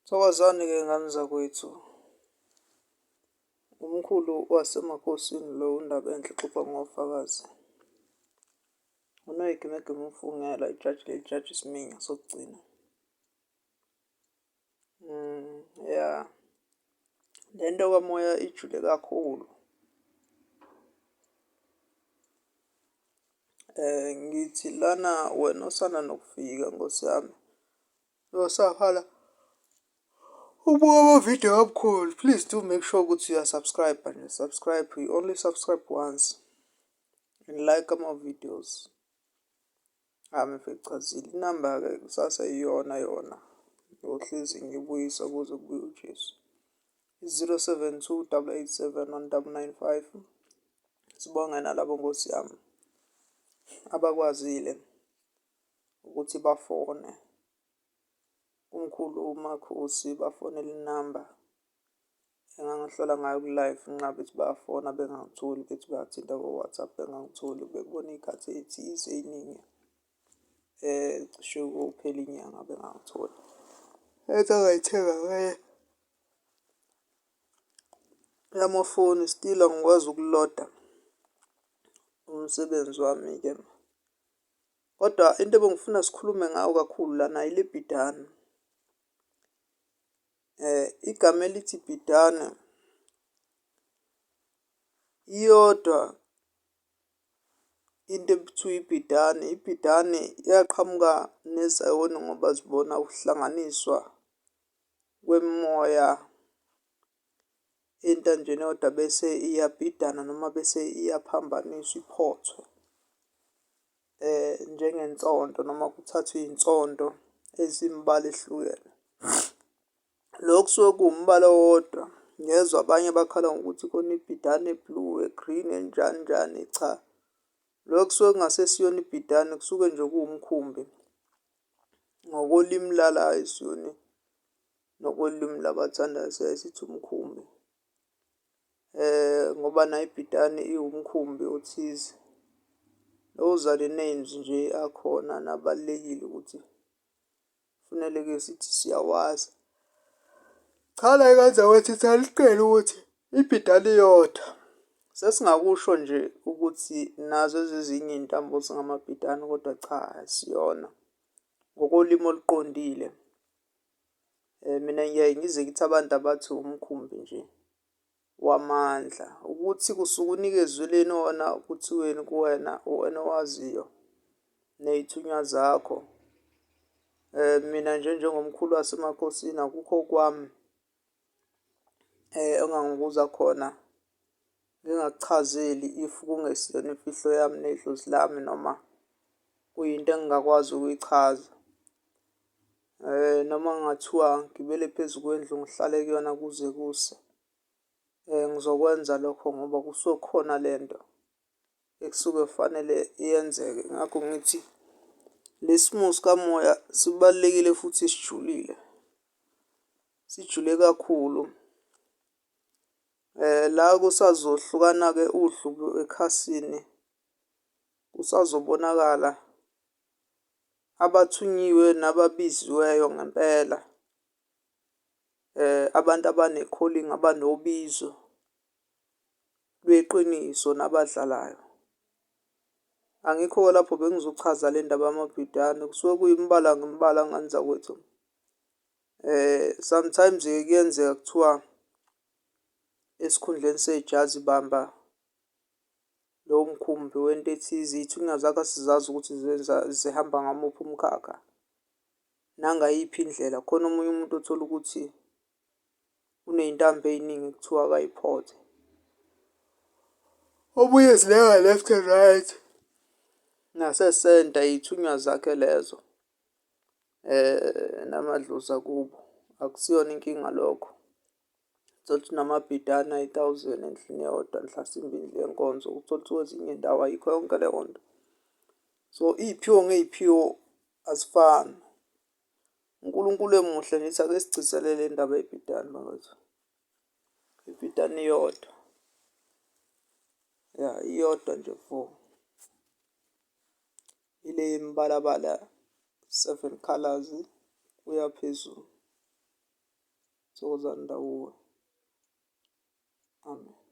Thokozani-ke ngane zakwethu. Umkhulu waseMakhosini lo uNdabenhle uxoxa ngofakazi. UNoyigimegimu umfungela ijaji leli jaji Sminya sokugcina. Ya, le nto kamoya ijule kakhulu. Ngithi lana wena osanda nokufika nkosi yami nosavala ubuka amavidiyo kaMkhulu, please do make sure ukuthi uya-subscribe-a and you subscribe, you only subscribe once and like ama-videos. Cha angifacazeli inamba-ke kusasa iyona yona ngiyohlezi ngibuyisa kuze kubuye uJesu. I-zero seven two double eight seven one double nine five. Sibonge nalabo Nkosi yami abakwazile ukuthi bafone. Umkhulu uMakhosi bafonele inamba. Engangihlola ngayo ku-live ngenxa yokuthi bayafona bengangitholi bethi bathinta ko-WhatsApp bengangitholi bebona iy'khathi ey'thize ey'ningi cishe kophela inyanga bengangitholi. Enye engayithenga ngeye eyamafoni still angikwazi ukuloda umsebenzi wami-ke. Kodwa into ebengifuna sikhulume ngayo kakhulu lana ile bhidane. Igama elithi bhidane iyodwa into ekuthiwa ibhidane. Ibhidane yaqhamuka nezayoni ngoba zibona ukuhlanganiswa kwemimoya entanjeni eyodwa bese iyabhidana noma bese iyaphambaniswa iphothwe njengensondo noma kuthathwe iy'nsondo ezimibala ehlukene. Lokhu kusuke kuwumbala owodwa ngezwa abanye bakhala ngokuthi khona ibhidane e-blue, e-green enjani njani cha. Lokhu kusuke kungasesiyona ibhidane kusuke nje kuwumkhumbi ngokolimi lala ayisiyona Ngokolimi labathandayo siyaye sithi umkhumbi ngoba nayo ibhidane iwumkhumbi othize. Those are the names nje akhona nabalulekile ukuthi kufuneleke sithi siyawazi. Cha la eKazakhwethi saliqhela ukuthi ibhidane iyodwa. Sesingakusho nje ukuthi nazo ezezinye iy'ntambo zingamabhidane kodwa cha asiyona ngokolimi oluqondile. Mina ngiyaye ngizwe ngithi abantu abathi umkhumbi nje wamandla ukuthi kusuke unikezelweni wona kuthiweni kuwena uwena owaziyo ney'thunywa zakho. Mina nje njengomkhulu wasemakhosini akukho okwami. Engangibuza khona ngingakuchazeli if kungesiyona imfihlo yami nedlozi lami noma kuyinto engingakwazi ukuyichaza. Noma kungathiwa ngigibele phezu kwendlu ngihlale kuyona kuze kuse. Ngizokwenza lokho ngoba kusuke kukhona le nto. ekusuke kufanele yenzeke. Ngakho ngithi le simo sikamoya sibalulekile futhi sijulile. Sijule kakhulu. Eh la kusazohlukana-ke uhlubu ekhasini. Kusazobonakala abathunyiwe nababiziweyo ngempela. Abantu abane-calling abanobizo. lweqiniso nabadlalayo. Angikho-ke lapho bengizochaza le ndaba yamabhidane kusuke kuyimibala ngemibala ngani zakwethu. Sometimes-ke kuyenzeka kuthiwa esikhundleni sejazi bamba lo mkhumbi wento ethize iy'thunywa zakho asizazi ukuthi zenza zihamba ngamuphi umkhakha nangayiphi indlela. Khona omunye umuntu othola ukuthi uney'ntambo ey'ningi kuthiwa akayiphothe. Omunye zilenga left and right nasesenta iy'thunywa zakhe lezo um namadlozi akubo akusiyona inkinga lokho thola ukuthi namabhidana ayi-thousand endlini eyodwa mhlasimbe indlu yenkonzo uthole ukuthi kwezinye indawo ayikho yonke leyo nto so iy'phiwo ngey'phiwo azifani uNkulunkulu emuhle ngithi ake sigcizelele indaba yebhidani bakwethu. Ibhidani iyodwa. Ya iyodwa nje fo. Ile yemibalabala seven colors kuya phezulu. Thokozani ndawuwe. Amen.